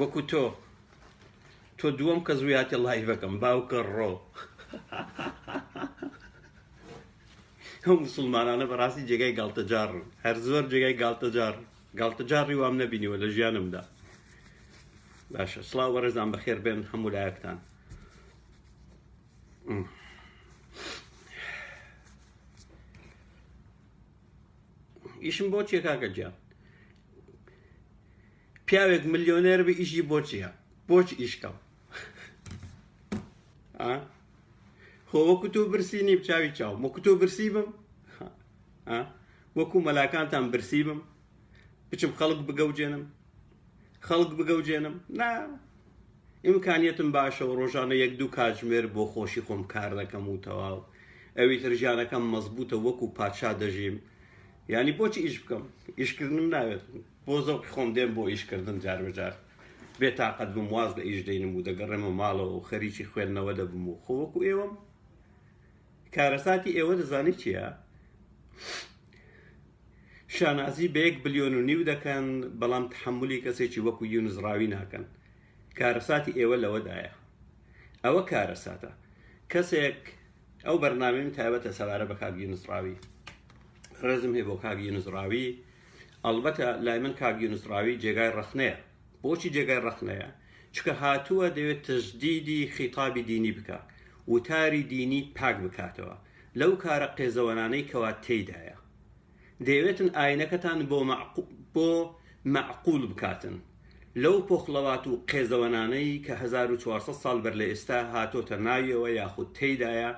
وەکو تۆ تۆ دووەم کەس بووی هاتە لایڤەکەم باوکە ڕۆ ئەو مسلمانانە بەڕاستی جێگای گاڵتەجاڕن هەر زۆر جێگای گاڵتەجار گاڵتەجاڕی وام نەبینیوە لە ژیانمدا باشە سڵاو بەڕێزان بەخێر بێن هەموو لایەکتان ئیشم بۆ چیە کاکە جیان پیاوێک ملیۆنێر بی ئیشی بۆ چییە بۆچ ئیشکەڵ خۆ وەکو تۆ برسی نیم چاوی چاو وەکو تۆ برسی بم وەکو مەلاکانتان برسی بم بچم خەڵک بگەوجێنم خەڵک بگەوجێنم نا ئیمکانیتم باشە و ڕۆژانە یەک دوو کاتژمێر بۆ خۆشی خۆم کار دەکەم و تەواو ئەوی تر ژیانەکەم مەزبوتە وەکو پادشا دەژیم ینی بۆچی ئیش بکەم ئیشکردنم ناوێت بۆ زەوقی خۆم دێم بۆ ئیش کردن جاربەجار بێ تاقەت بم واز لە ئیش دەینم و دەگەڕێمە ماڵەوە و خەریکی خوێندنەوە دەبم و خۆ وەکو ئێوەم کارەساتی ئێوە دەزانی چییە؟ شانازی بە یەک بلیۆن و نیو دەکەن بەڵام تحملی کەسێکی وەکو یونس ڕاوی ناکەن کارەساتی ئێوە لەوەدایە ئەوە کارەساتە کەسێک ئەو بەرنامەیم تایبەتە سەبارە بە کاک یونس ڕاوی ڕێزم هەیە بۆ کاک یونس ڕاوی ئەڵبەتە لای من کاک یونس ڕاوی جێگای ڕەخنەیە بۆچی جێگای ڕەخنەیە چکە هاتووە دەوێت تەجدیدی خیتابی دینی بکا وتاری دینی پاک بکاتەوە لەو کارە قێزەوەنانەی کەوا تێیدایە دەیەوێتن ئاینەکەتان بۆ بۆ مەعقول بکاتن لەو پۆخڵەوات و قێزەوەنانەی کە 1400 سال بەر لە ئێستا هاتۆتە ناویەوە یاخود تێیدایە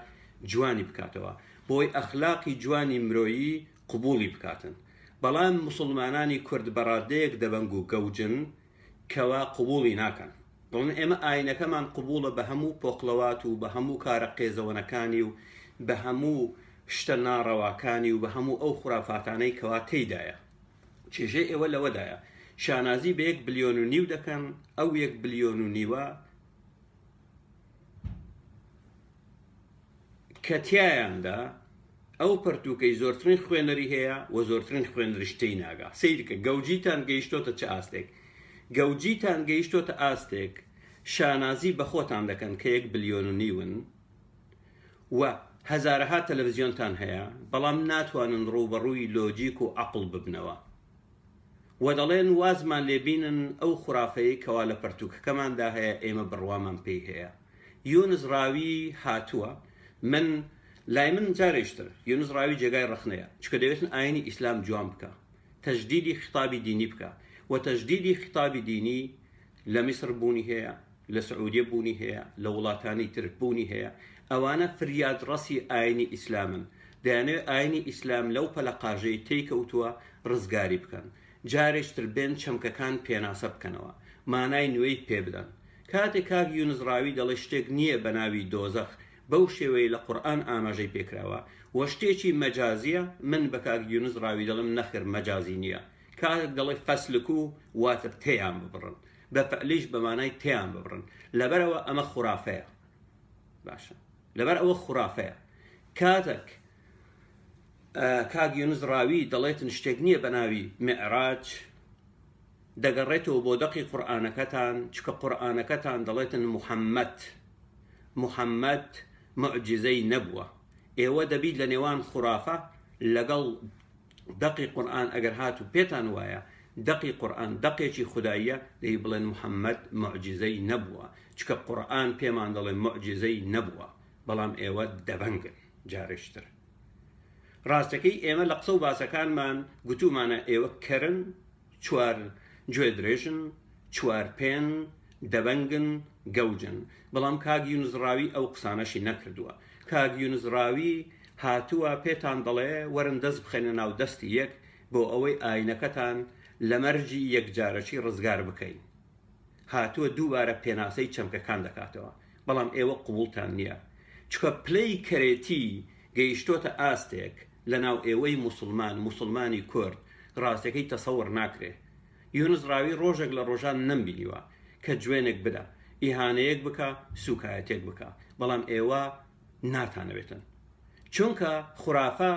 جوانی بکاتەوە بۆی ئەخلاقی جوانی مرۆیی قبوڵی بکاتن بەڵام موسڵمانانی کورد بەڕادەیەک دەبەنگ و گەوجن کەوا قبوڵی ناکەن دەڵێن ئێمە ئاینەکەمان قبوڵە بە هەموو پۆقڵەوات و بە هەموو کارە قێزەوەنەکانی و بە هەموو شتە ناڕەواکانی و بە هەموو ئەو خورافاتانەی کەوا تێیدایە چێژەی ئێوە لەوەدایە شانازی بە یەک بلیۆن و نیو دەکەن ئەو یەک بلیۆن و نیوە کە تیایاندا ئەو پەرتووکەی زۆرترین خوێنەری هەیە و زۆرترین خوێنەریش تێی ناگا سیرکە گەوجیتان گەیشتۆتە چ ئاستێک گەوجیتان گەیشتۆتە ئاستێک شانازی بە خۆتان دەکەن کە یەک بلیۆن و نیون و هەزارەها تەلەڤزیۆنتان هەیە بەڵام ناتوانن ڕووبەڕووی لۆجیک و عەقڵ ببنەوە و دەڵێن وازمان لێ بینن ئەو خورافەیەی کەوا لە پەرتووکەکەماندا هەیە ئێمە بڕوامان پێی هەیە یونس ڕاوی هاتووە من لای من جارێشتر یونس ڕاوی جێگای ڕەخنەیە چکە دەوێتن ئاینی ئیسلام جوان بکە تەجدیدی خطابی دینی بکە و تەجدیدی خطابی دینی لە میسر بوونی هەیە، لە سعودیە بوونی هەیە، لە وڵاتانی تر بوونی هەیە، ئەوانە فریادڕەسی ئاینی ئیسلامن، دەیانەوێت ئاینی ئیسلام لەو پەلەقاژەی تێی کەوتووە ڕزگاری بکەن، جارێش تر بێن چەمکەکان پێناسە بکەنەوە، مانای نوێی پێ بدەن. کاتێک کاک یونس ڕاوی دەڵێت شتێک نییە بە ناوی دۆزەخ بەو شێوەیەی لە قورئان ئاماژەی پێکراوە و شتێکی مەجازییە، من بە کاک یونس ڕاوی دەڵێم نەخێر مەجازی نییە، کاتێک دەڵێ فەسلکو واتە تێیان ببڕن، بە فەعلیش بە مانای تێیان ببڕن، لەبەر ئەوە ئەمە خورافەیە. باشە لەبەر ئەوە خورافەیە. کاتەک کاک یونس ڕاوی دەڵێتن شتێک نییە بە ناوی معراج دەگەڕێتەوە بۆ دەقی قورآانەکەتان چکە قورآانەکەتان دەڵێتن محەممەد محەممەد معجززەی نەبووە ئێوە دەبیت لە نێوان خورافە لەگەڵ دەقی قورئان ئەگەر هاتوو پێتان وایە دەقی قورئان دەقێکی خوداییە دەی بڵێن محەمەد موعجیزەی نەبووە چکە قورئان پێمان دەڵێ موعجیزەی نەبووە بەڵام ئێوە دەبەنگن جارێشتر ڕاستەکەی ئێمە لە قسە و باسەکانمان گوتومانە ئێوە کەرن چوار، گوێ درێژن، چوار پێن، دەبەنگن، گەوجن. بەڵام کاک یونس ڕاوی ئەو قسانەشی نەکردووە. کاک یونس ڕاوی هاتووە پێتان دەڵێ وەرن دەست بخەینە ناو دەستی یەک بۆ ئەوەی ئایینەکەتان لە مەرجی یەکجارەکی ڕزگار بکەین. هاتووە دووبارە پێناسەی چەمکەکان دەکاتەوە. بەڵام ئێوە قبووڵتان نییە. چونکە پلەی کەرێتی گەیشتۆتە ئاستێک لەناو ئێوەی موسڵمان موسڵمانی کورد ڕاستەکەی تەسەوڕ ناکرێ یونس ڕاوی ڕۆژێک لە ڕۆژان نەمبینیوە کە جوێنێک بدا ئیهانەیەک بکا سوکایەتێک بکا بەڵام ئێوە ناتانەوێتن چونکە خورافە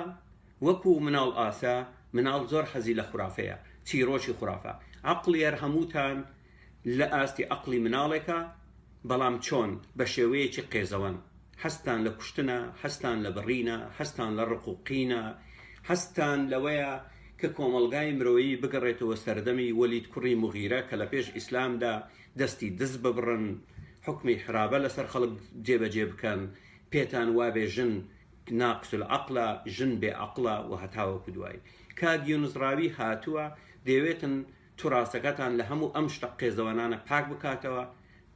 وەکو مناڵ ئاسا مناڵ زۆر حەزی لە خورافەیە چیرۆکی خورافە عەقڵیەر هەمووتان لە ئاستی عەقڵی مناڵێکە، بەڵام چۆن؟ بە شێوەیەکی قێزەوەن. حەزتان لە کوشتنە، حەزتان لە بڕینە، حەزتان لە ڕق و قینە، حەزتان لەوەیە کە کۆمەڵگای مرۆیی بگەڕێتەوە سەردەمی وەلید کوڕی موغیرە کە لە پێش ئیسلامدا دەستی دز ببڕن، حوکمی حرابە لەسەر خەڵک جێبەجێ بکەن، پێتان وابێ ژن ناقس العقلە، ژن بێ عەقڵە و هەتاوەکو دوایی. کاک یونس ڕاوی هاتووە، دەیەوێتن تراستەکەتان لە هەموو ئەم شتە قێزەوەنانە پاک بکاتەوە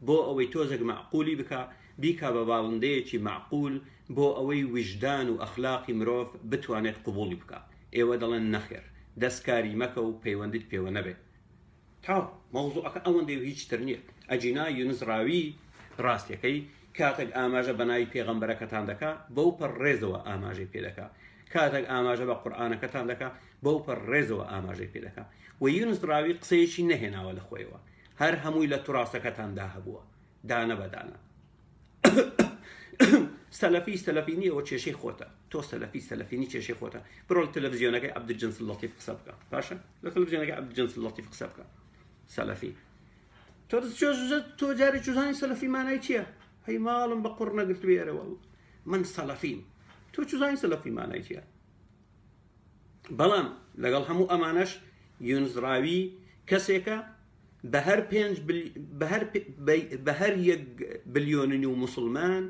بۆ ئەوەی تۆزێک مەعقولی بکا بیکا بە باڵندەیەکی مەعقول بۆ ئەوەی ویژدان و ئەخلاقی مرۆڤ بتوانێت قبوڵی بکا ئێوە دەڵێن نەخێر دەست کاری مەکە و پەیوەندیت پێوە نەبێت تاو مەوزوعەکە ئەوەندەی و هیچ تر نییە ئەجینا یونس ڕاوی ڕاستەکەی کاتێک ئاماژە بە ناوی پێغەمبەرەکەتان دەکا بەو پەر ڕێزەوە ئاماژەی پێ دەکا کاتێک ئاماژە بە قورآانەکەتان دەکا بەوپەڕ ڕێزەوە ئاماژەی پێ دەکەم و یونس ڕاوی قسەیەکی نەهێناوە لە خۆیەوە هەر هەمووی لە توڕاسەکەتاندا هەبووە دانە بەدانە سەلەفی سەلەفینی ئەوە کێشەی خۆتە تۆ سەلەفی سەلەفینی کێشەی خۆتە بڕۆ لە تەلەڤزیۆنەکەی عەبدولجنس لەتیف قسە بکە باشە لە تەلەڤزیۆنەکەی عەبدولجنس لەتیف قسە بکە سەلەفی تۆ تۆ جارێک چوزانی سەلەفی مانای چییە هەی ماڵم بە قڕ نەگرتوێرەوە من سەلەفیم تۆ چوزانی سەلەفی مانای چییە بەڵام لەگەڵ هەموو ئەمانەش یونزڕاوی کەسێکە بە هەر پێنج بە هەر یەک بلیۆننی و مسلمان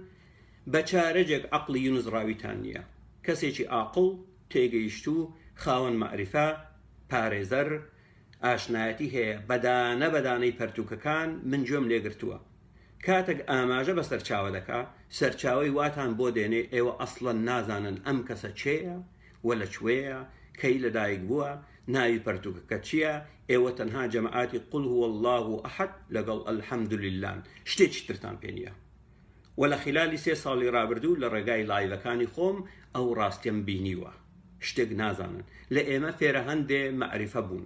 بە چارەجێک عقلی یونزڕاویتان نییە کەسێکی ئاقل تێگەیشتوو خاوەن معریفە پارێزەر ئاشنایەتی هەیە بەدانە بەدانەی پەرتوکەکان من گوێم لێگرتووە کاتەک ئاماژە بە سەرچاوە دەکا سەرچاوەی واتان بۆ دێنێ ئێوە ئەسڵەن نازانن ئەم کەسە کێیە و لە کوێیە کەی لە دایک بووە ناوی پەرتووکەکە چییە ئێوە تەنها جەمەعاتی قل هو اللە احد لەگەڵ الحمدللە ن شتێکی ترتان پێ نییە و لە خلالی سێ ساڵی ڕابردوو لە ڕێگای لایڤەکانی خۆم ئەو ڕاستیەم بینیوە شتێک نازانن لە ئێمە فێرە هەندێ مەعریفە بوون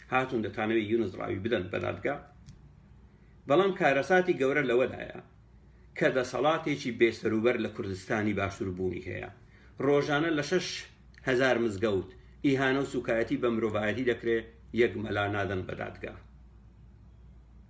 هاتوون دەتانەوێت یونس ڕاوی بدەن بە دادگا بەڵام کارەساتی گەورە لەوەدایە کە دەسەڵاتێکی بێسەروبەر لە کوردستانی باشوور بوونی هەیە ڕۆژانە لە شش هزار مزگەوت ئیهانە و سوکایەتی بە مرۆڤایەتی دەکرێت یەک مەلا نادەن بە دادگا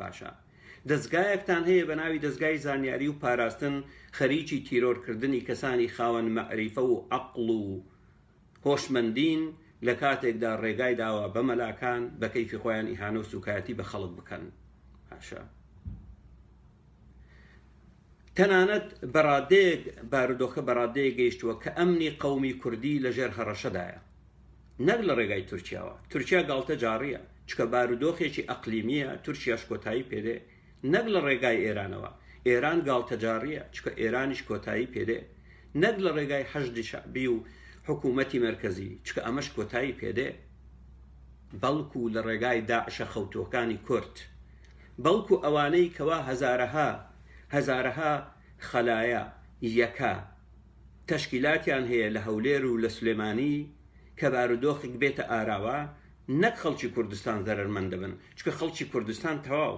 باشە دەزگایەکتان هەیە بە ناوی دەزگای زانیاری و پاراستن خەریکی تیرۆر کردنی کەسانی خاوەن مەعریفە و عەقڵ و هۆشمەندین لە کاتێکدا ڕێگای داوە بە مەلاکان بە کەیفی خۆیان ئیهانە و سوکایەتی بە خەڵک بکەن باشە تەنانەت بە ڕادەیەک بارودۆخە بە ڕادەیەک گەیشتووە کە ئەمنی قەومی کوردی لە ژێر هەڕەشەدایە نەک لە ڕێگای تورکیاوە، تورکیا گاڵتەجاڕییە چونکە بارودۆخێکی ئەقلیمییە تورکیاش کۆتایی پێدێ نەک لە ڕێگای ئێرانەوە، ئێران گاڵتەجاڕییە چونکە ئێرانیش کۆتایی پێدێ نەک لە ڕێگای حەشدی شەعبی و حکوومەتی مەرکەزی چونکە ئەمەش کۆتایی پێدێ بەڵکوو لە ڕێگای داعشە خەوتووەکانی کورد. بەڵکو ئەوانەی کەوا هەزارەها هەزارەها خەلایە یەکە تەشکیلاتیان هەیە لە هەولێر و لە سلێمانی کە بارودۆخک بێتە ئاراوە نەک خەڵکی کوردستان زەرەرمەند دەبن چکە خەڵکی کوردستان تەواو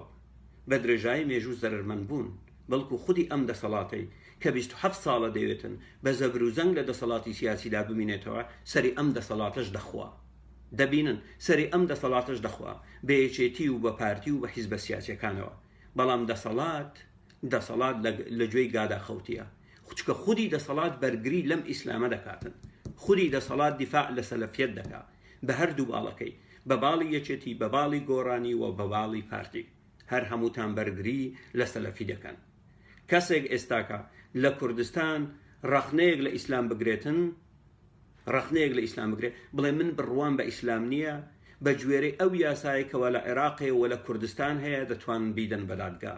بە درێژایی مێژوو زەرەرمەند بوون بەڵکو خودی ئەم دەسەڵاتەی کە بیست و حەفت ساڵە دەیەتن بە زەبروزەنگ لە دەسەڵاتی سیاسیدا بمینێتەوە سەری ئەم دەسەڵاتەش دەخوا. دەبینن سەری ئەم دەسەڵاتەش دەخوا بە یەکێتی و بە پارتی و بە حیزبە سیاسیەکانەوە بەڵام دەسەڵات دەسەڵات لە گوێی گادا خەوتیە خوچکە خودی دەسەڵات بەرگری لەم ئیسلامە دەکاتن خودی دەسەڵات دیفاع لە سەلەفیەت دەکا بە هەردوو باڵەکەی بە باڵی یەکێتی بە باڵی گۆرانی و بە باڵی پارتی هەر هەمووتان بەرگری لە سەلەفی دەکەن کەسێک ئێستاکە لە کوردستان ڕەخنەیەک لە ئیسلام بگرێتن ڕەخنەیەک لە ئیسلام بگرێت بڵێ من بڕوام بە ئیسلام نییە بە گوێرەی ئەو یاسایە کەوا لە عێراقێ و لە کوردستان هەیە دەتوانن بیدەن بە دادگا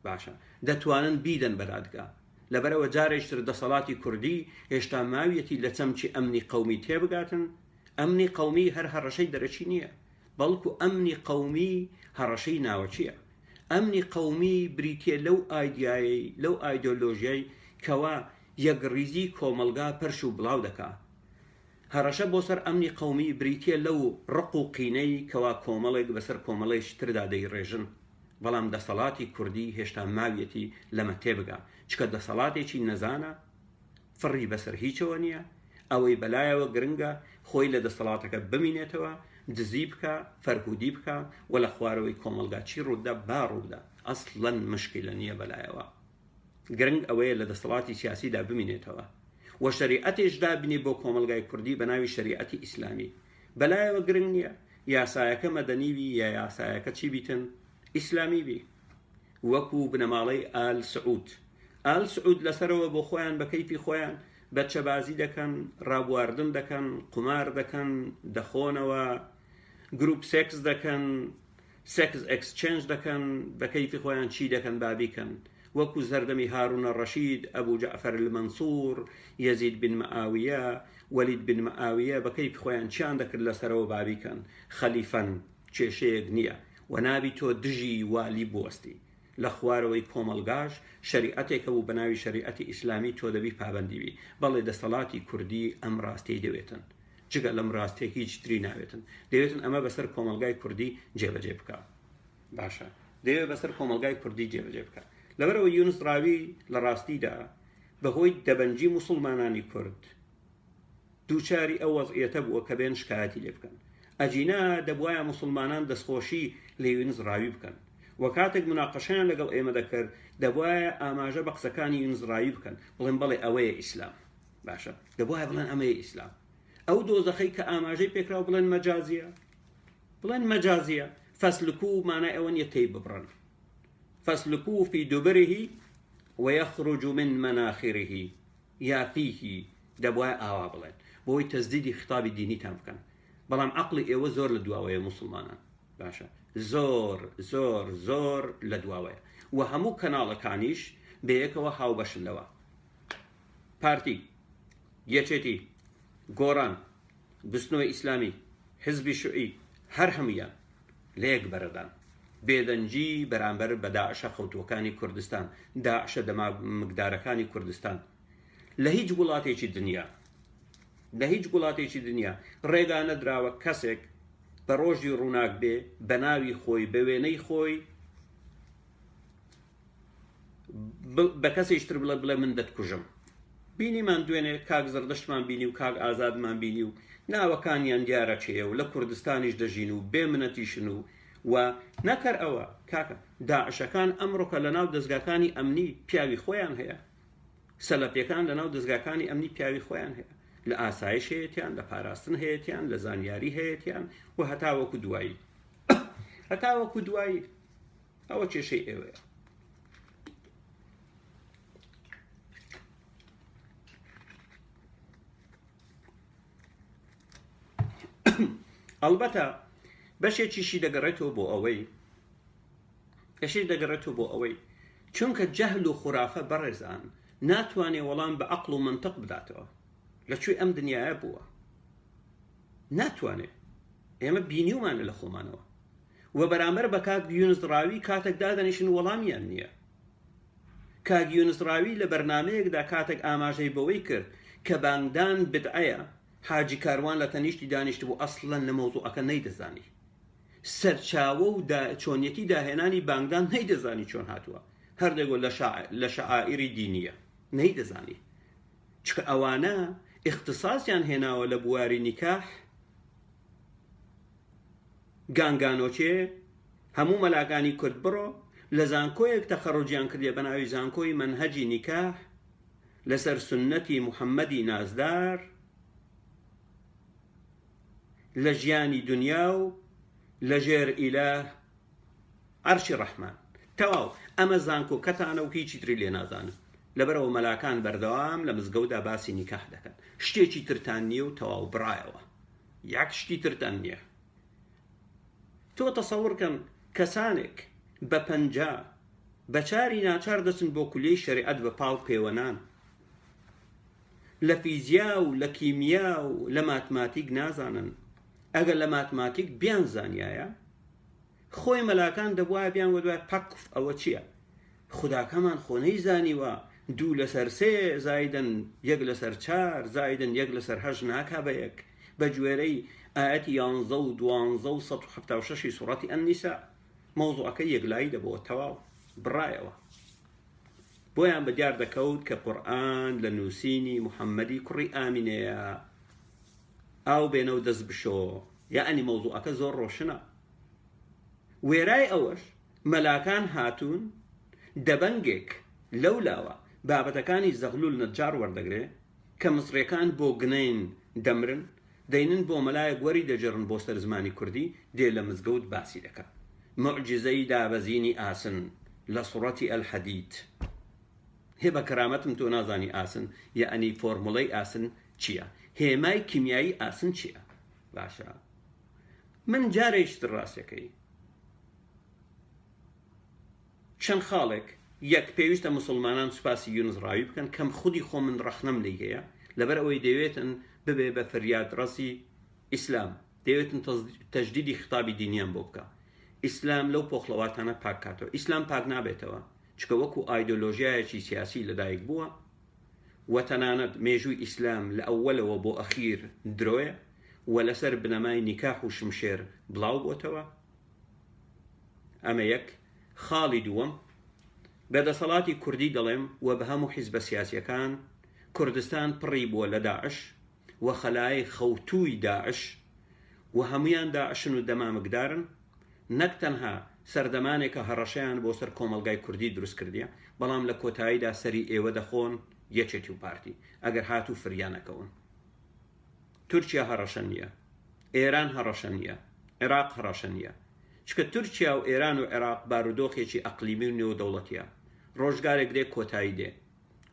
باشە دەتوانن بیدەن بە دادگا لەبەرەوە جارێشتر دەسەڵاتی کوردی هێشتا ماویەتی لە چەمکی ئەمنی قومی تێبگاتن ئەمنی قومی هەر هەڕەشەی دەرەکی نییە بەڵکو ئەمنی قەومی هەڕەشەی ناوەکییە. ئەمنی قەومی بریتییە لەو ئایدیایەی، لەو ئایدۆلۆژیای کەوا یەکڕیزیی کۆمەڵگا پەرش و بڵاو دەکا. هەڕەشە بۆ سەر ئەمنی قەومی بریتییە لەو ڕق و قینەی کەوا کۆمەڵێک بە سەر کۆمەڵێکی تردا دەیڕێژن. بەڵام دەسەڵاتی کوردی هێشتا ماویەتی لەمە تێبگا. چکە دەسەڵاتێکی نەزانە فڕی بەسەر هیچەوە نییە، ئەوەی بەلایەوە گرنگە خۆی لە دەسەڵاتەکە بمینێتەوە، دزی بکا، فەرهودی بکا و لە خوارەوەی کۆمەڵگا چی ڕووبدا با ڕووبدا، ئەسڵەن مشکیلە نییە بەلایەوە. گرنگ ئەوەیە لە دەسەڵاتی سیاسیدا بمینێتەوە و شەریعەتیش دابنی بۆ کۆمەڵگای کوردی بە ناوی شەریعەتی ئیسلامی. بەلایەوە گرنگ نییە یاسایەکە مەدەنی بی یا یاسایەکە چی بیتن، ئیسلامی بی. وەکو بنەماڵەی ئال سعود ئال سعود لەسەرەوە بۆ خۆیان بە کەیفی خۆیان بەچەبازی دەکەن ڕابواردن دەکەن قومار دەکەن دەخۆنەوە گروپ سێکس دەکەن سێکس ئەکسچێنج دەکەن بە کەیفی خۆیان چی دەکەن بابیکەن وەکو زەردەمی هاروونە ڕەشید ئەبوو جەعفەر المەنسوور یەزید بن مەئاویە وەلید بن مەئاویە بە کەیف خۆیان چیان دەکرد لەسەرەوە بابیکەن خەلیفەن کێشەیەک نیە و نابی تۆ دژی والی بوەستی لە خوارەوەی کۆمەڵگاش شەریعەتێک هەبوو بە ناوی شەریعەتی ئیسلامی تۆ دەبی پابەندی بی بەڵێ دەستەڵاتی کوردی ئەم ڕاستیەی دەوێتن جگە لەم ڕاستیە هیچ تری ناوێتن دەوێتن ئەمە بەسەر کۆمەڵگای کوردی جێبەجێ بکە باشە دەوێت بەسەر کۆمەڵگای کوردی جێبەجێ بکە لەبەرەوە یونس ڕاوی لە ڕاستیدا بەهۆی دەبەنجی مسلمانانی کورد دووچاری ئەو وەزعیەتە بووە کە بێن شکایەتی لێ بکەن. ئەگینا دەبوایە موسڵمانان دەستخۆشی لە یونس ڕاوی بکەن و کاتێک موناقەشەیان لەگەڵ ئێمە دەکرد دەبوایە ئاماژە بە قسەکانی یونس ڕاوی بکەن بڵێن بەڵێ ئەوەیە ئیسلام. باشە دەبوایە بڵێن ئەمەیە ئیسلام. ئەو دۆزەخەی کە ئاماژەی پێکراو بڵێن مەجازیە؟ بڵێن مەجازیە. فەسلکو مانای ئەوە نیە تێی ببڕن. فەسلکو فی دوبرهی ویخرج من مناخرهی. یافیهی دەبوایە ئاوا بڵێن بۆوەی تەزدیدی خیتابی دینیتان بکەن بەڵام عەقڵی ئێوە زۆر لە دواوەیە موسڵمانان باشە زۆر زۆر زۆر لە دواوەیە وە هەموو کەناڵەکانیش بەیەکەوە هاوبەشن لەوە پارتی یەکێتی گۆڕان بزنۆی ئیسلامی، حزبی شوعی، هەر هەموویان لە یەک بەرەدان. بێدەنگی بەرامبەر بە داعشە خەوتووەکانی کوردستان، داعشە دەمامکدارەکانی کوردستان لە هیچ وڵاتێکی دنیا، لە هیچ وڵاتێکی دنیا ڕێگا نەدراوە کەسێک بە ڕۆژی ڕووناک بێ بە ناوی خۆی، بە وێنەی خۆی، بە کەسێکی تر بڵێ بڵێ من دەتکوژم بینیمان دوێنێ کاک زڕدەشتمان بینی و کاک ئازادمان بینی و ناوەکانیان دیارە چێە و لە کوردستانیش دەژین و بێ منەتیشن و و نەکەر ئەوە کاکە داعشەکان ئەمڕۆکە لە ناو دەستگاکانی ئەمنی پیاوی خۆیان هەیە سەلەپیەکان لە ناو دەستگاکانی ئەمنی پیاوی خۆیان هەیە لە ئاسایش هەیەیان لە پاراستن هەیەیان لە زانیاری هەیەیان و هەتاوەکو دوایی هەتاوەکو دوایی ئەوە کێشەی ئێوەیە ئەڵبەتە بەشێکیشی دەگەڕێتەوە بۆ ئەوەی کەشی دەگەڕێتەوە بۆ ئەوەی چونکە جەهل و خورافە بەڕێزان ناتوانێ وەڵام بە عقل و منطق بداتەوە لە کوێ ئەم دنیاە بووە ناتوانێ ئێمە بینیومانە لە خۆمانەوە و بەرامبەر بە کاک یونس ڕاوی کاتێک دادەنیشن وەڵامیان نییە کاک یونس ڕاوی لە بەرنمەیەکدا کاتێک ئاماژەی بەوەی کرد کە بانگدان بدعەیە حاجی کاروان لە تەنیشتی دانیشت بوو ئەسڵەن لە مەوزوعەکە نەیدەزانی سەرچاوە و دا چۆنیەتی داهێنانی بانگدان نەیدەزانی چۆن هاتووە هەردەگۆ لە شعائری دینیە نەیدەزانی چکە ئەوانە اختصاصیان هێناوە لە بواری نیکاح گانگانۆکێ هەموو مەلاکانی کورد بڕۆ لە زانکۆیەک تەخەڕوجیان کردێ بە ناوی زانکۆی مەنهەجی نیکاح لەسەر سوننەتی محەممەدی نازدار لە ژیانی دنیا و لەژێر ئیلە عەرشی ڕەحمان تەواو ئەمە زانکۆکەتانە و هیچی تری لێ نازانن لەبەرەوە مەلاکان بەردەوام لە مزگەودا باسی نیکاح دەکەن شتێکی ترتان نییە و تەواو بڕایەوە یەک شتی ترتان نییە تۆ تەسەورکەم کەسانێک بە پەنجا بەچاری ناچار دەچن بۆ کولی شەریعەت بە پاڵ پێوەنان لە فیزیا و لە کیمیا و لە ماتماتیک نازانن ئەگەر لە ماتماتیک بیانزانیایە خۆی مەلاکان دەبوایە بیان وەدوای پەکف ئەوە چییە خوداکەمان خۆ نەیزانیوە دوو لەسەر سێ زایدن یەک لەسەر چار زایدن یەک لەسەر هەش ناکا بە یەک بە گوێرەی ئاەتی یانزە و دوانزە و سە و حفتا و شەشی سوڕەتی ئەنیسا مەوزوعەکە یەکلایی دەبەوە تەواو بڕایەوە بۆیان بە دیار دەکەوت کە قورآن لە نووسینی محەممەدی کوڕی ئامینەیە ئاو بێنە و دەست بشۆ. یەعنی مەوزوعەکە زۆر ڕۆشنە. وێرای ئەوەش مەلاکان هاتوون دەبەنگێک لەو لاوە بابەتەکانی زەغلول نەجار وەردەگرێ کە مصڕیەکان بۆ گنین دەمرن دەینن بۆ مەلایەک وەری دەجڕن بۆ سەر زمانی کوردی دێ لە مزگەوت باسی دەکا موعجیزەی دابەزینی ئاسن لە سوڕەتی ئەلحەدید هێ بە کەرامەتم تۆ نازانی ئاسن یەعنی فۆرموڵەی ئاسن چیە هێمای کیمیایی ئاسن چیە باشە من جارێک شتر ڕاستەکەی چەند خاڵێک یەک پێویستە مسلمانان سوپاسی یونس ڕاوی بکەن کەم خودی خۆ من ڕەخنەم لی هەیە لەبەر ئەوەی دەوێتن ببێ بە فریاد ڕەسی ئیسلام دەوێتن تەجدیدی خطابی دینیان بۆ بکە ئیسلام لەو پۆخڵەواتانە پاکاتەوە ئیسلام پاک نابێتەوە چکە وەکو ئایدۆلۆژیایەکی سیاسی لەدایک بووە و تەنانەت مێژووی ئیسلام لە ئەوەلەوە بۆ ئەخیر درۆیە و لەسەر بنەمای نیکاح و شمشێر بڵاو بۆتەوە ئەمە یەک خاڵی دووەم بە دەسەڵاتی کوردی دەڵێم و بە هەموو حیزبە سیاسیەکان کوردستان پڕی بووە لە داعش و خەلایەی خەوتووی داعش و هەموویان داعشن و دەمامکدارن، نەک تەنها سەردەمانێکە هەڕەشەیان بۆ سەر کۆمەڵگای کوردی دروست کردیە، بەڵام لە کۆتاییدا سەری ئێوە دەخۆن یەکێتی و پارتی، ئەگەر هاتوو فریانەکەون. تورکیا هەڕەشە نیە. ئێران هەڕەشە نیە. عێراق هەڕەشە نیە. چونکە تورکیا و ئێران و عێراق بارودۆخێکی ئەقلیمی و نێودەوڵەتیە. ڕۆژگارێک دێ کۆتایی دێ.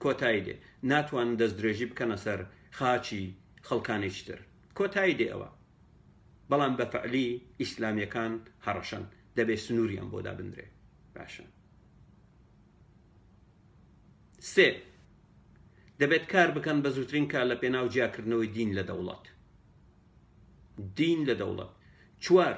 کۆتایی دێ ناتوانن دەست درێژی بکەنە سەر خاچی خەڵکانێکی تر کۆتایی دێ ئەوە بەڵام بە فەعلی ئیسلامیەکان هەڕەشەن دەبێ سنوریان بۆ دابندرێ باشە سێ دەبێت کار بکەن بە زووترین کار لە پێناو جیاکردنەوەی دین لە دەوڵەت دین لە دەوڵەت چوار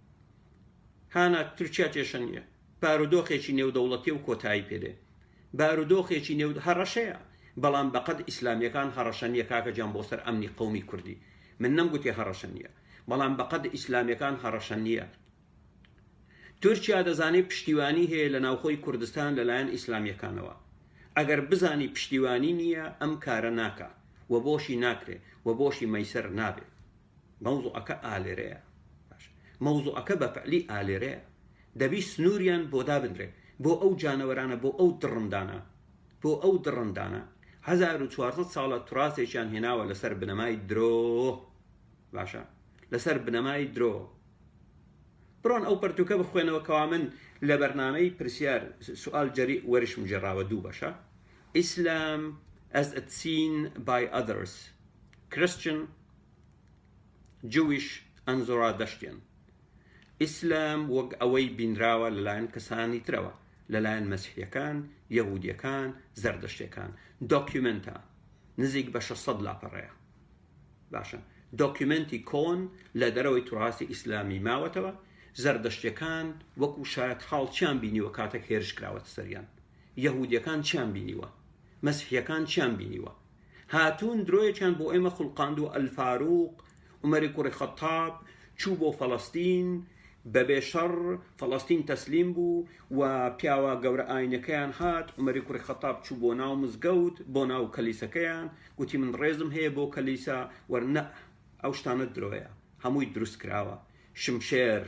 هانا تورکیا کێشە نییە بارودۆخێکی نێودەوڵەتی و کۆتایی پێدێ بارودۆخێکی نێو هەڕەشەیە بەڵام بەقەد ئیسلامیەکان هەڕەشە نییە کاکە جان بۆ سەر ئەمنی قومی کوردی من نەم گوتێ هەڕەشە نییە بەڵام بەقەد ئیسلامیەکان هەڕەشە نییە تورکیا دەزانێت پشتیوانی هەیە لە ناوخۆی کوردستان لەلایەن ئیسلامیەکانەوە ئەگەر بزانی پشتیوانی نییە ئەم کارە ناکە و بۆشی ناکرێ و بۆشی مەیسەر نابێت مەوزوعەکە ئالێرەیە باشە مەوزوعەکە بەفعلی ئالێرەیە دەبی سنوریان بۆ دابنرێ بۆ ئەو جانەوەرانە بۆ ئەو دڕندانە بۆ ئەو دڕندانە هەزار و چوارسەد ساڵە تراسێکیان هێناوە لەسەر بنەمای درۆ باشە لەسەر بنەمای درۆ بڕۆن ئەو پەرتوکە بخوێنەوە کەوا من لە بەرنمەی پرسیار سوال جەری وەرشم جێراوە دوو بەشە ئیسلام as a seen by others Christian جویش ئەنزۆرا دەشتێن ئیسلام وەک ئەوەی بینراوە لەلایەن کەسانی ترەوە لەلایەن مەسیحیەکان یەهودیەکان زەردەشتەکان دۆکیومنتە نزیک بە 600 لاپەڕەیە باشە دۆکیومنتی کۆن لە دەرەوەی تراسی ئیسلامی ماوەتەوە زەردەشتەکان وەکو شایەت حاڵ چیان بینیوە کاتێک هێرش کراوەتە سەریان یەهودیەکان چیان بینیوە مەسیحیەکان چیان بینیوە هاتوون درۆیەکیان بۆ ئێمە خوڵقاند و ئەلفاروق، عومەری کوڕی خەتاب، چوو بۆ فەڵەستین، بەبێ شەڕ فەڵەستین تەسلیم بوو و پیاوە گەورە ئاینەکەیان هات، عومەری کوڕی خەتاب چوو بۆ ناو مزگەوت، بۆ ناو کەلیسەکەیان، گوتی من ڕێزم هەیە بۆ کەلیسا و نە، ئەو شتانە درۆیە، هەمووی دروستکراوە، شمشێر.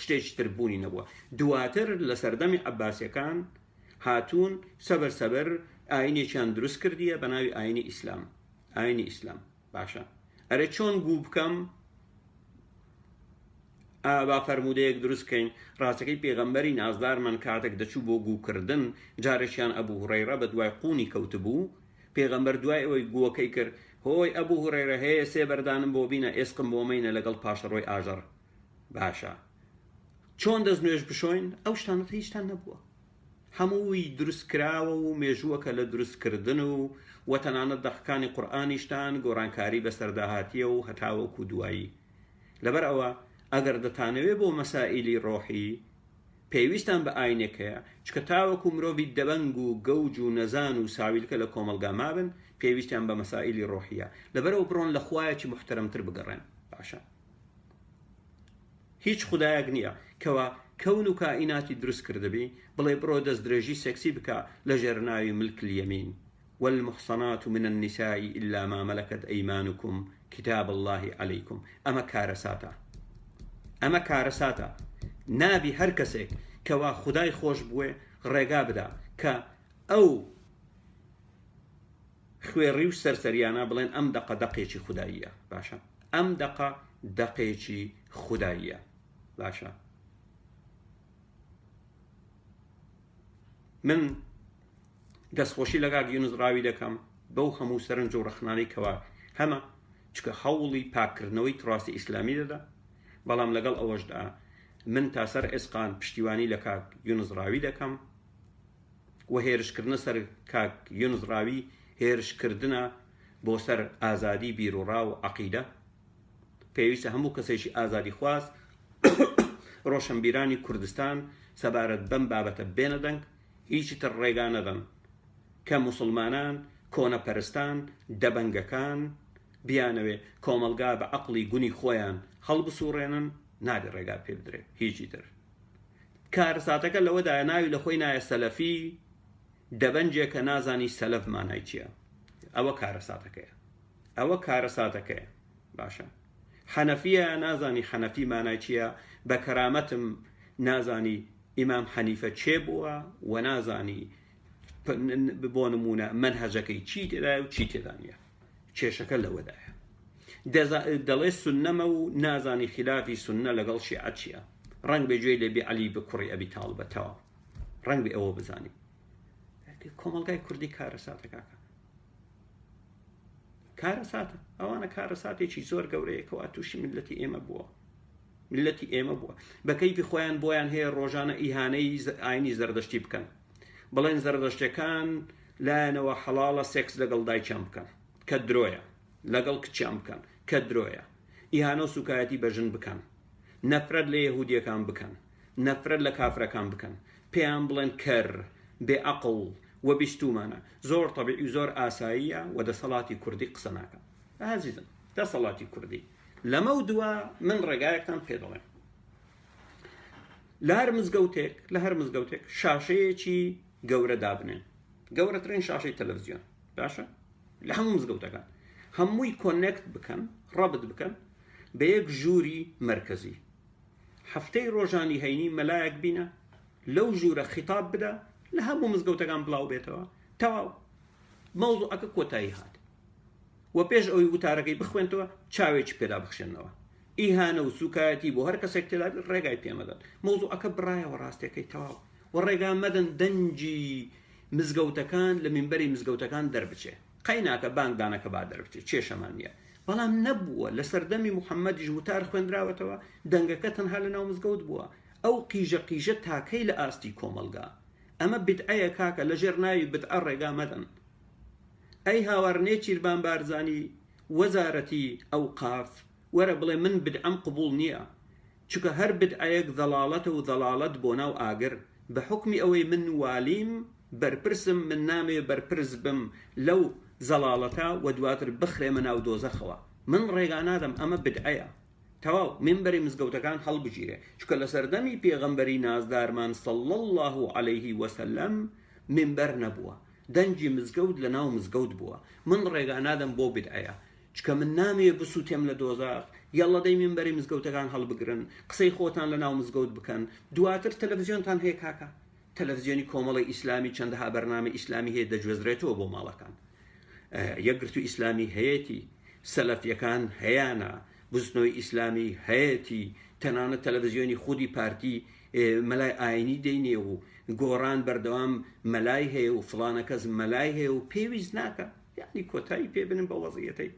شتێکی تر بوونی نەبووە دواتر لە سەردەمی عباسەکان هاتوون سەبەر سەبەر ئاینێکیان دروست کردیە بە ناوی ئاینی ئیسلام ئاینی ئیسلام باشە ئەرێ چۆن گوو بکەم ئابا فەرمودەیەک دروستکەین ڕاستەکەی پێغەمبەری نازدارمان کاتێک دەچوو بۆ گووکردن جارێکیان ئەبوو هوڕێڕە بە دوای قوونی کەوتبوو پێغەمبەر دوای ئەوەی گووەکەی کرد هۆی ئەبوو هوڕێرە هەیە سێ بەردانم بۆ بینە ئێسقم بۆ مینە لەگەڵ پاشەڕۆی ئاژەڕ باشە چۆن دەست نوێژ بشۆین ئەو شتانەت هیچتان نەبووە هەمووی دروستکراوە و مێژووەکە لە دروستکردن و وەتەنانە دەقەکانی قورآانیشتان گۆڕانکاری بەسەرداهاتیە و هەتاوەکو دوایی لەبەر ئەوە ئەگەر دەتانەوێ بۆ مەسائللی ڕۆحی پێویستان بە ئاینێک هەیە چکە تاوەکو مرۆڤی دەبەنگ و گەوج و نەزان و ساویلکە لە کۆمەلگا مابن پێویستیان بە مەسائللی ڕۆحیە لەبەرەوە بڕۆن لە خوایەکی محتەرمتر بگەڕێن باشە هیچ خودایەک نییە کەوا کەون و کائیناتی دروست کردبی بڵێ بڕۆ دەست درێژی سێکسی بکە لە ژێر ناوی ملک الیمین والمحصنات من النساء الا ما ملكت ايمانكم كتاب الله عليكم ئەمە کارەساتە ئەمە کارەساتە نابی هەر کەسێک کەوا خدای خۆش بوێ ڕێگا بدا کە ئەو خوێڕی و سەرسەریانە بڵێن ئەم دەقە دەقێکی خوداییە باشە ئەم دەقە دەقێکی خوداییە باشە من دەستخۆشی لەگا گیونز ڕاوی دەکەم بەو هەموو سەرنج و ڕخنانەی کەوا هەمە چکە هەوڵی پاکردنەوەی تڕاستی ئیسلامی دەدا بەڵام لەگەڵ ئەوەشدا من تاسەر ئێسقان پشتیوانی لە کاک یونزڕاوی دەکەم و هێرشکردنە سەر کاک یونس ڕاوی هێرشکردنە بۆ سەر ئازادی بیروڕا و عەقیدە پێویستە هەموو کەسێکی ئازادی خواز ڕۆشنبیرانی کوردستان سەبارەت بەم بابەتە بێنە دەنگ هیچی تر ڕێگا نەدەن کە مسلمانان کۆنەپەرستان دەبەنگەکان بیانەوێ کۆمەلگا بە عقلی گونی خۆیان هەڵبسوڕێنن نابێ ڕێگا پێ بدرێ هیچی تر کارەساتەکە لەوەدایە ناوی لە خۆی نایە سەلەفی دەبەنجێک کە نازانی سەلەف مانای چییە ئەوە کارەساتەکەیە ئەوە کارەساتەکەیە باشە حەنەفیە نازانی حەنەفی مانای چییە بە کەرامەتم نازانی ئیمام حەنیفە چێ بووە و نازانی بۆ نمونە من هەجەکەی چی تێدا و چی تێدانە کێشەکە لەوەدایە دەڵێ سنەمە و نازانی خلافی سنە لەگەڵ شیعە چییە ڕنگ بێ گوێی لەبێ علی بە کوڕی ئەبی تاڵبەتەوە ڕنگ بێ ئەوە بزانانی کۆمەلگای کوردی کارە ساتەکەکە کارە ساتە ئەوانە کارە ساتێکی زۆر گەورەیەکەوە تووشی ملەتی ئێمە بووە ملەتی ئێمە بووە بەکەیفی خۆیان بۆیان هەیە ڕۆژانە ئیهانەی ئاینی زەردەشتی بکەن بڵێن زەردەشتەکان لایەنەوە حەڵاڵە سێکس لەگەڵ دایکیان بکەن کە درۆیە لەگەڵ کچیان بکەن کە درۆیە ئیهانە و سوکایەتی بە ژن بکەن نەفرەت لە یەهودیەکان بکەن نەفرەت لە کافرەکان بکەن پێیان بڵێن کەر بێ ئەقڵ و بیستومانە زۆر طبیعی زۆر ئاساییە و دەسەڵاتی کوردی قسە ناکەم ئازیزم دەسەڵاتی کوردی لەمە و دووە من ڕێگایەکتان پێ دەڵێم لە هەر مزگەوتێک لە هەر مزگەوتێک شاشەیەکی گەورە دابنێن گەورەترین شاشەی تەلەڤزیۆن باشە لە هەموو مزگەوتەکان هەمووی کۆنێکت بکەن ڕەبت بکەن بە یەک ژووری مرکزی هەفتەی ڕۆژانی هەینی مەلایەک بینە لەو ژوورە خیتاب بدە لە هەموو مزگەوتەکان بڵاو بێتەوە تەواو مەوزوعەکە کۆتایی هات و پێش ئەوی وتارەکەی بخوێنتەوە چاوێکی پێدا بخشێنەوە ئیهانە و سوکایەتی بۆ هەر کەسێک تێدابێت ڕێگای پێمەدەن مۆزوعەکە بڕایەوە ڕاستیەکەی تەواو و ڕێگا مەدەن دەنجی مزگەوتەکان لە منبەری مزگەوتەکان دەربچێ قەیناکە بانگدانەکە با دەربچێت کێشەمان نییە بەڵام نەبووە لە سەردەمی محەممەدیش وتار خوێندراوەتەوە دەنگەکە تەنها لە ناو مزگەوت بووە ئەو قیژە قیژە تاکەی لە ئاستی کۆمەلگا ئەمە بدعەیە کاکە لە ژێر ناوی بدعە ڕێگا مەدەن ئەی هاوار نێچیربان بارزانی وەزارەتی ئەوقاف وەرە بڵێ من بدعەم قبوڵ نیە چونکە هەر بدعەیەک زەڵاڵەتە و زەڵاڵەت بۆ ناو ئاگر بە حوکمی ئەوەی من والیم بەرپرسم من نامەوێ بەرپرس بم لەو زەڵاڵەتە وە دواتر بخرێمە ناو دۆزەخەوە من ڕێگا نادەم ئەمە بدعەیە تەواو مینبەری مزگەوتەکان هەڵبگیرێ چونکە لە سەردەمی پێغەمبەری نازدارمان صلی اللە علیه وسلم مینبەر نەبووە دەنگی مزگەوت لە ناو مزگەوت بووە من ڕێگا نادەم بۆ بیدعەیە چکە من نامەوێ بسووتێم لە دۆزاخ یەڵڵە دەی مینبەری مزگەوتەکان هەڵبگرن قسەی خۆتان لە ناو مزگەوت بکەن دواتر تەلەفزیۆنتان هەیە کاکە تەلەفزیۆنی کۆمەڵی ئیسلامی چەندەها بەرنامە ئیسلامی هەیە دەگوێزرێتەوە بۆ ماڵەکان یەکگرتو ئیسلامی هەیەتی سەلەفیەکان هەیانە بزنەوەی ئیسلامی هەیەتی تەنانە تەلەڤزیۆنی خودی پارتی مەلای ئاینی دەینێ و گۆڕان بەردەوام مەلای هەیە و فڵانەکەس مەلای هەیە و پێویست ناکە یعنی کۆتایی پێ بنن بە وەزیەتەی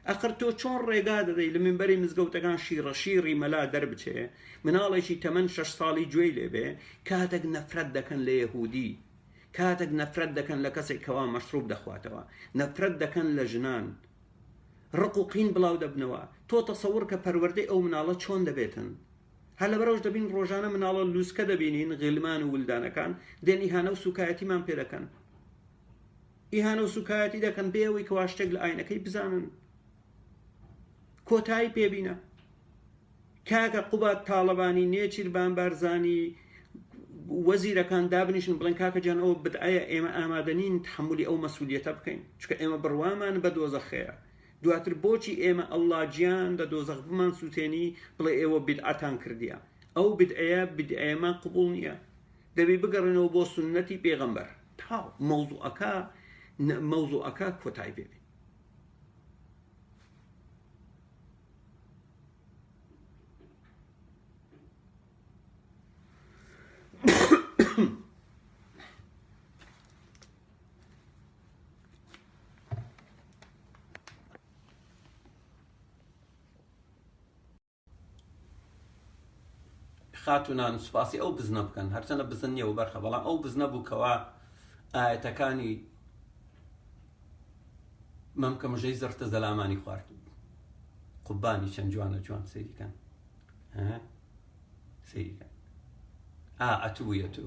ئەقر تۆ چۆن ڕێگا دەدەی لە منبەری مزگەوتەکان شیڕە شیڕی مەلا دەربچێ مناڵێکی تەمەەن شش ساڵی گوێی لێبێ کاتێک نەفرەت دەکەن لە یەهودی کاتێک نەفرەت دەکەن لە کەسێک کەوا مەشروب دەخواتەوە نەفرەت دەکەن لە ژنان ڕق و قین بڵاو دەبنەوە تۆ تەسەور کە پەروەردەی ئەو مناڵە چۆن دەبێتن هەر لەبەرەوش دەبین ڕۆژانە مناڵە لووسکە دەبینین غیلمان و ولدانەکان دێن ئیهانە و سوکایەتیمان پێ دەکەن ئیهانە و سوکایەتی دەکەن بێەوەی کەوا شتێک لە ئاینەکەی بزانن کۆتایی پێبینە کاکە قوبات تاڵەبانی نێچیربان بارزانی وەزیرەکان دابنیشن بڵێن کاکە جان ئەوە بدعەیە ئێمە ئامادەنین تحملی ئەو مەسوولەتە بکەین چکە ئێمە بڕوامان بە دۆزەخەیە دواتر بۆچی ئێمە اللە گیان لە دۆزەخ بمان سوتێنی بڵێ ئێوە بیدعەتان کردیە ئەو بیدعەیە بیدعەیەمان قبوڵ نیە دەبی بگەڕێنەوە بۆ سونەتی پێغەمبەر تا مەوزوعەکە مەوزوعەکە کۆتای پێبێ خاتونان سوپاسی ئەو بزنە بکەن هەرچەنە بزن نیە و بەرخە بەڵام ئەو بزنە بوو کەوا ئاەتەکانی مەمکە مژەی زڕتە زەلامانی خوارد قوبانی چەند جوانە جوان سەیریکەن سەیریکەن ئا ئەتوویە تو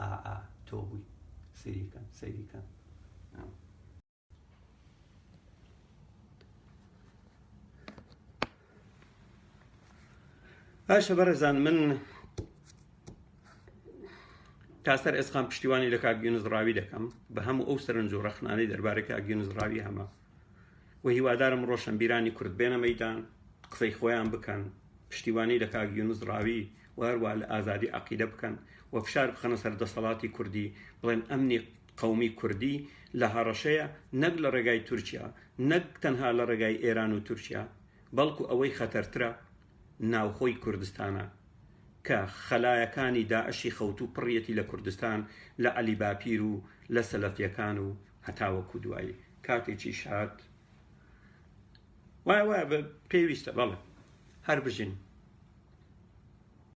ئا ئا تۆ بووی سەیری کەن سەیری کەن باشە بەڕێزان من تاسەر ئێسقان پشتیوانی لە کاک یونس ڕاوی دەکەم بە هەموو ئەو سەرنج و ڕەخنانەی دەربارەی کاک یونس ڕاوی هەمە و هیوادارم ڕۆشنبیرانی کورد بێنە مەیدان قسەی خۆیان بکەن پشتیوانی لە کاک یونس ڕاوی و هەروە لە ئازادی عقیدە بکەن و فشار بخەنە سەر دەسەڵاتی کوردی بڵێن ئەمنی قەومی کوردی لە هەڕەشەیە نەک لە ڕێگای تورکیا نەک تەنها لە ڕێگای ئێران و تورکیا بەڵکو ئەوەی خەتەرترە ناوخۆی کوردستانە کە خەلایەکانی داعشی خەوتوو پڕیەتی لە کوردستان لە عەلی باپیر و لە سەلەفیەکان و هەتاوەکو دوایی کاتێکیش هات وایە وایە بە پێویستە بەڵێ هەر بژین